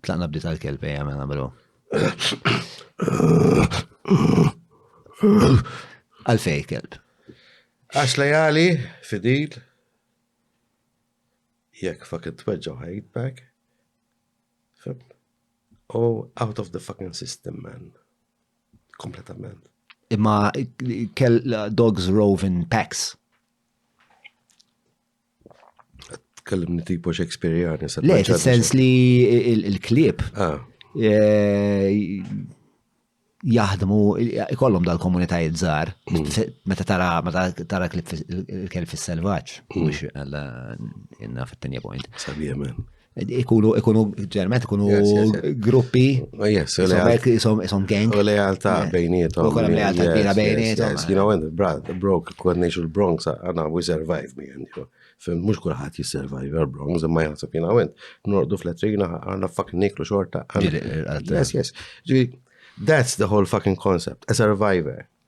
Tlaqna bdiet għal-kelb ejja mela bro. Għalfej kelb. Għax lejali, fidil, jekk fucking tweġġaw ħajtbek. Oh, out of the fucking system, man. Kompletament. Imma kell dogs rove in packs. Tkellimni tipo Shakespeareani. Le, sens li il-klib ah. eh, jaħdmu, ikollhom dal-komunitajiet żgħar, mm. meta tara meta tara klib il-kelb fis-selvaġġ, mm. mhux għalla inna fit-tenja point. Sabiħ ikunu ikunu ġermet ikunu gruppi oh, jisom gang u lealta bejnietom u kolla lealta kbira bejnietom you know and brad the broke kod nejxu l-Bronx għana we survive me and you fim mux kullħat jissurvive l-Bronx imma jgħasab jina għen nordu fl-etrina għana fucking niklu xorta yes yes that's the whole fucking concept a survivor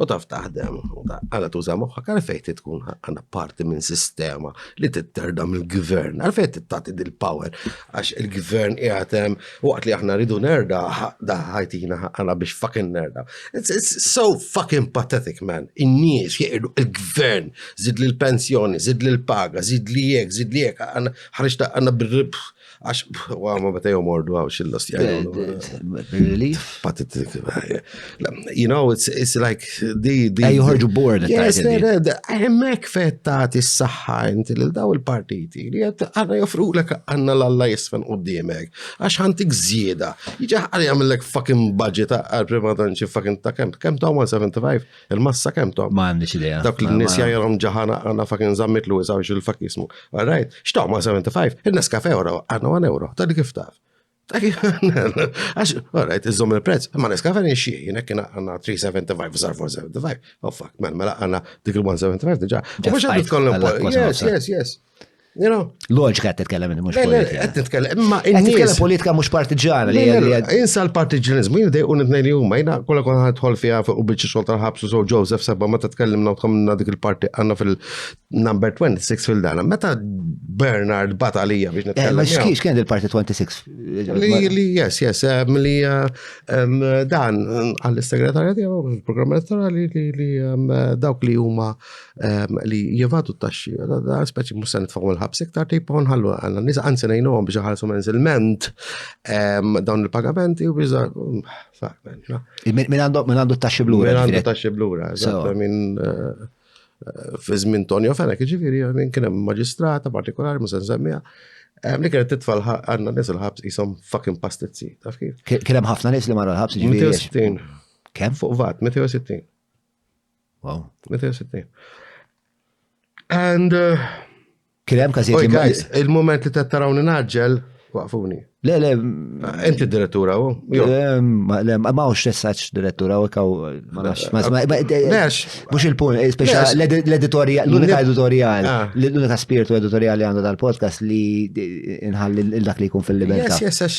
U taf taħdem, għala tuża moħħa, għalfejn ti tkun għana parti minn sistema li titterda mill-gvern, għalfejn tittati dil-power, għax il-gvern jgħatem, waqt li aħna rridu nerda, daħħajtina għana biex fucking nerda. It's, it's so fucking pathetic, man. In-nies jgħidu il-gvern, zid li l-pensjoni, zid li l-paga, zid li jek, zid li jek, ħarġta għana bil-ribħ. Għax, għaw, ma bata jom ordu għaw xillos jgħajdu. Relief? Patit, you know, it's, it's like, di, di. Ej, joħorġu board. Yes, emmek fetta tissaħħa inti li daw il-partiti li għed għanna joffru l għanna l-alla jisfen u d-diemek. Għax għantik zjeda. Iġa għalli għamillek fucking budget għal prima donċi fucking ta' kem, kem ta' 175. Il-massa kemm tom? Ma għandix idea. Dak li n-nis jajrom ġaħana għanna fakin zammit l użaw xil fakismu Alright, xtaw ma 75, il-nes kafe euro, għanna 1 euro, ta' li kif taf. Għax, alright, iżom il-prezz, ma neskafe nixxie, jina kena għanna 375, zar 475, oh fuck, man, mela għanna dik il-175 diġa. Mux għandu tkollem, yes, yes, yes. Loġika qed titkellem minn mhux politika. Qed titkellem, imma qed titkellem politika mhux partiġana li Insa l-partiġanizmu, jien dejqu nitnej li huma, jiena kollha kon ħadħol fiha fuq biċċi xogħol tal-ħabsu so Joseph sebba meta tkellimna u tkomna dik il-parti għandna fil-number 26 fil-dana. Meta Bernard bat għalija biex eh, nitkellem. Ma xkiex kien il-parti 26? Li yes, yes, eh, li eh, dan għall-segretarja tiegħu il-programm elettorali li dawk li huma ehm, li jivadu t-taxxi, da speċi musa nitfaw il-ħabs iktar tipa nħallu għanna nisa għanzi nejnu għom biex ħalsu menzilment ehm, dawn il-pagamenti u biex Min għandu t-taxxi blura? Min għandu t-taxxi blura, fi żmien Tonio Fenek, ġifiri, minn kien hemm maġistrata partikolari, musen semmija. Li kienet titfall għanna nis il-ħabs jisom fucking pastizzi, taf kif? Kien hemm ħafna nis li marra l-ħabs ġifiri. 260. Kemm? Fuq vat, 260. Wow. 260. And. Uh, Kien hemm każijiet. Il-moment li tarawni naġġel, waqfuni. Le, le. Ah, inti direttura u? Le, ma ma ux tessaċ direttura u kaw. Ma nafx. Mux il-pun, eh, speċa l-editorial, l-unika editorial, ah. l-unika spiritu editorial li għandu dal-podcast li inħalli l-dak li jkun fil-libertà. Yes, yes,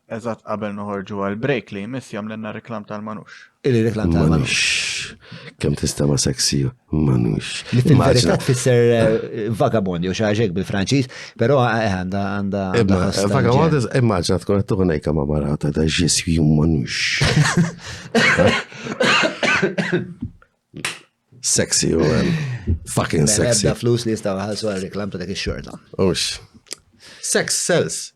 Eżatt qabel noħorġu għal break li jmiss jagħmlilna reklam tal-manux. Il-reklam tal-manux. Kemm tista' ma sexy manux. Il-verità tfisser eh, vagabond jew xi bil-Franċiż, però eh, għandha għandha. Vagabond immaġna tkun qed tuħu ngħidha ma' marata ta' ġiswi manux. Sexy u eh, fucking sexy. Ebda flus li jistgħu ħassu għal reklam ta' dak ix-xorta. Ux. Sex sells.